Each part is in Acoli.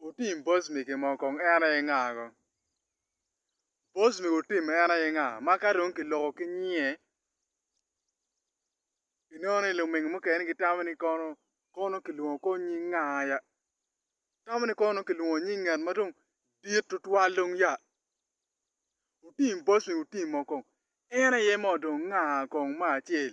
Otim boss me gin mo kong en aye nga go? Boss me otim en aye nga ma ka dong kiloko ki nyinge inongo ni lumingi mukene gitamo ni kono kono kilwongo kong nying nga ya? Tamo ni kono dong kilwongo nying ngat ma dong dit tutwal dong ya? Otim boss me otim mo kong en aye mo dong nga kong me acel?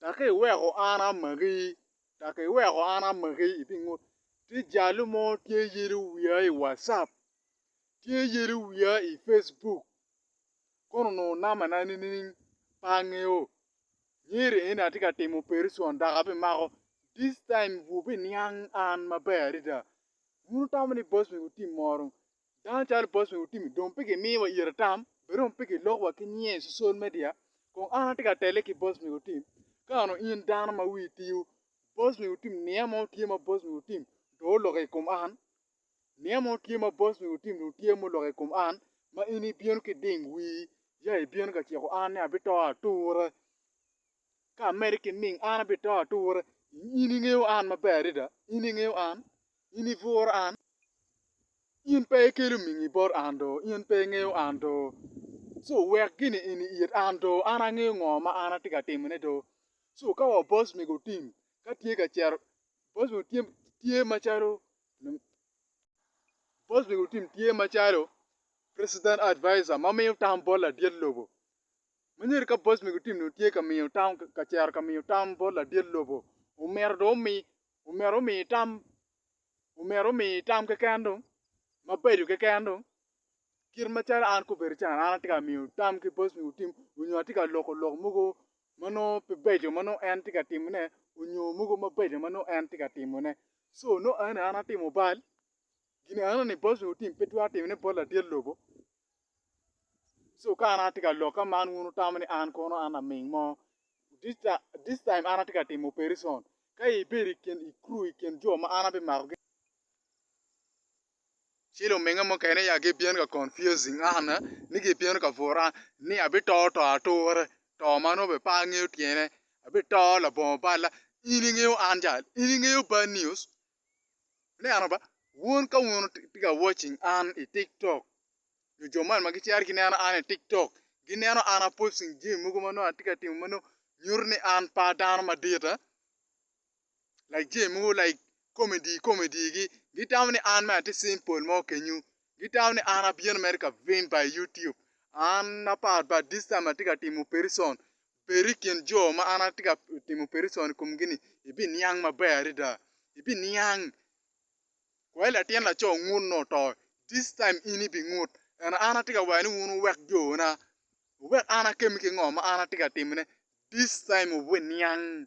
Dok iweko an amaki, dok iweko an amaki i pingut. Tye jalo mo tye yelo wiya i wacap, tye yelo wiya i Facebook, kono onongo nambana nining? Pe angeyo. Myero en atye ka timo opereson dok abimako. This time bwubiniang an maber adada. Wun wutamo ni boss mego team moro Dano calo bot me Utimi dong pe gimiyowa ite tam, bene dong pe gilokowa ki nyinge i cocol media. Kong an atye ka tele ki bot me Utimi, ka nongo in dano ma wii tiyo, bot me Utimi niya mo tye ma bot me Utimi dong oloko i kom an, niya mo tye ma bot me Utimi dong tye ma oloko i kom an, ma in ibino ki ding wii ya ibino ka ciko an ni abito ature. Ka amedde ki nining, an abito ature. In ingeyo an maber adada. In ingeyo an. In ibworo an. In pe ikelo mingi bot an do. In pe ingeyo an do. Co wek gini eni it an do. An angeyo ngo ma an atye ka timone do. Co ka wa boss mego otim, ka tye ka cito, boss mego tye, tye macalo, boss mego otim tye macalo president advisor ma miyo tam bot ladit lobo. Ma nyero ka boss mego team dong tye ka miyo tam, ka cero ka miyo tam bot ladit lobo, omyero dong omi, omyero omi tam, omyero omi tam keken dong, mabeco keken dong. Kit macalo an kobedo can, an atye ka miyo tam ki boss mego team, onyo atye ka loko lok mogo ma nongo pe beco ma nongo en tye ka timone, onyo mogo mabeco ma nongo en tye ka timone. Co nongo eno aye an atimo bal, gin enoni boss mego team pe twero timone bot ladit lobo. So ka an atye ka lok ka man wun wutamo ni an kono an laming mo. This time, this time an atye ka timo operation. Ka ibedo i kin i crew i kin jo ma an abimakogi. Ci luminga mukene ya gibino ka confusing an eh, ni gibino ka bura an ni abito to ature, to ma nongo bene pe angeyo tyene. Abito labongo balla. In ingeyo an jal? In ingeyo bad news? Ineno ba? Wun ka wun wutye ka watching an i TikTok, nyo jo man ma gicito gineno an i TikTok, gineno an aposting jami mogo ma nongo atye ka timo ma nongo nyuto ni an pe adano madit, eh? Like jami mogo like comedy comedy-gi, gitamo ni an mere atye simple mo kenyu, gitamo ni an abino mere ka vim pa i YouTube. An apart but this time atye ka timo opereson. Peri i kin jo ma an atye ka timo opereson i komgi-ni, ibiniang maber adada. Ibiniang! Kwai latin laco ngut nongo oto, this time in ibingut. Ento an atye ka wero ni wun wuwek jona, wuwek an akemmi ki ngo ma an atye ka timone, this time wubiniang!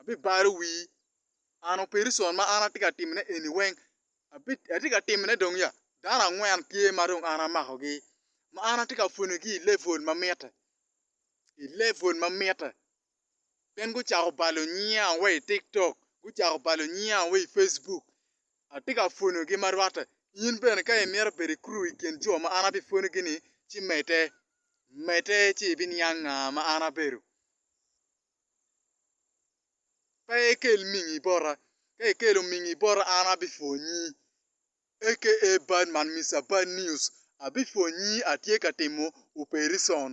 abibalo wii, an opereson ma an atye ka timone eni weng atye ka timone dong ya? Dano angwen tye ma dong an amakogi ma an atye ka pwonyogi i levul ma mitte, i levul ma mitte gin gucako balo nyinga wa i tiktok, gucako balo nyinga wa i Facebuk atye ka pwonyogi ma rwatte. In bene ka imito bedo i kuru i kin jo ma an abipwonyogi-ni ci medde, medde ci ibiniang nga ma an abedo. pe ikel mingi bota, ka ikelo mingi bota an abipwonyi aka bad man Mister Bad News abipwonyi atye ka timo opereson.